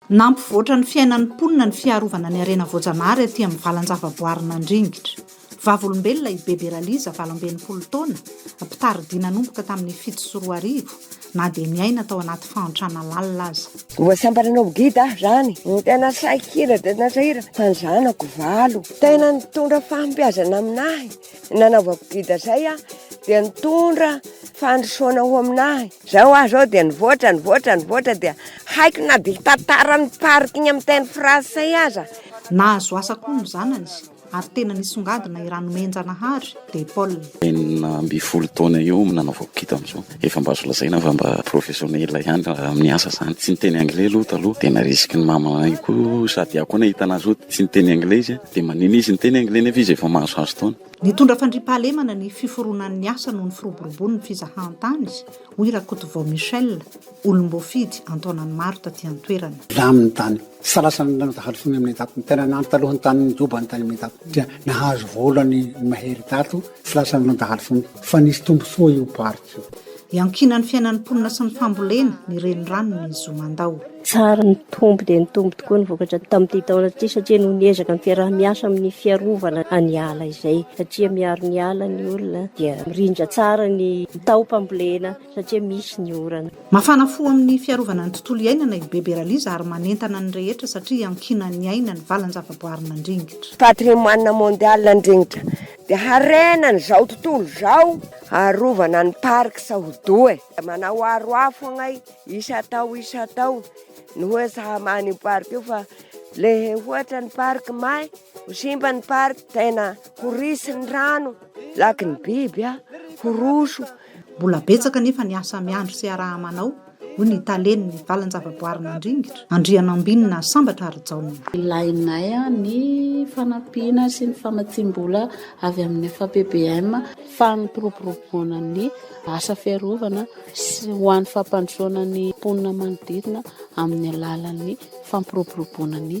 Nampivoatra ny fiainan'ny mponina ny fiarovana ny harena voajanahary aty amin'ny valan-javaboarin'Andringitra. Vavolombelona i Bebe Raliza, valo amby enimpolo taona, mpitari-dia nanomboka tamin'ny fito sy roa arivo, na dia niaina tao anaty fahantrana lalina aza. Mbola tsy ampy nanao guide aho izany. Ny tena sahira dia tena sahira fa ny zanako valo. Tena nitondra fahombiazana aminahy ny nanaovako guide izay aho dia nitondra fandrosoana ho aminahy. Izao aho izao dia nivoatra, nivoatra, nivoatra dia haiko na dia hitantara ny parking amin'ny teny fransay aza. Nahazo asa koa ny zanany. Ary tena nisongadina i Ranomenjanahary de Paul. Enina ambin'ny folo taona eo no nanaovako kit amin'izao. Efa mba azo lazaina fa mba professionnel ihany raha amin'ny asa izany. Tsy niteny anglais aloha taloha dia narisiky ny mamanay koa sady aho koa nahita anazy hoe tsy niteny anglais izy dia manina izy niteny anglais nefa izy efa mahazohazo taona. Nitondra fandriampahalemana ny fiforonan'ny asa noho ny firoborobon'ny fizahantany, hoy Rakotovao Michel. olom-boafidy an-taonany maro taty an-toerana. Laminy tany. Tsy salasany ny lanonja hadisoany amin'ny dago. Ny tena nandro taloha ny tany nijobany tany amin'ny dago dia nahazo vola ny mahery tato. Tsy lasa ny lanja hadisoany fa nisy tombontsoa io parc io. Iankinan'ny fiainan'ny mponina sy ny fambolena ny renirano ny Zomandao. Tsara nitombo dia nitombo tokoa ny vokatra tamin'ity taona ity satria noho ny ezaka ny fiaraha-miasa amin'ny fiarovana ny ala izay satria miaro ny ala ny olona dia mirindra tsara ny taom-pambolena. satria misy ny orana. Mafana fo amin'ny fiarovana ny tontolo iainana i Bebe Raliza ary manentana ny rehetra satria iankinan'ny aina ny valan-javaboarin'Andringitra. Patrimoine mondial Andringitra dia harenan'izao tontolo izao. Arovana ny parcs ho doux e! Manao aro afo agnay isan-tao isan-tao ny hoe tsy hamaha an'io parc io fa lehe hoatra ny parc may ho simba ny parc tena ho ritsy ny rano, laky ny biby a, ho roso. Mbola betsaka anefa ny asa miandry sy iaraha-manao, hoy ny talen'ny valan-javaboarin'Andringitra, Andrianambinina Sambatra Harijaona. Ilainay ny fanampiana sy ny famatsiam-bola avy amin'ny FAPBM, fampiroboroboana ny asa fiarovana sy ho an'ny fampandrosoana ny mponina manodidina amin'ny alalan'ny fampiroboroboana ny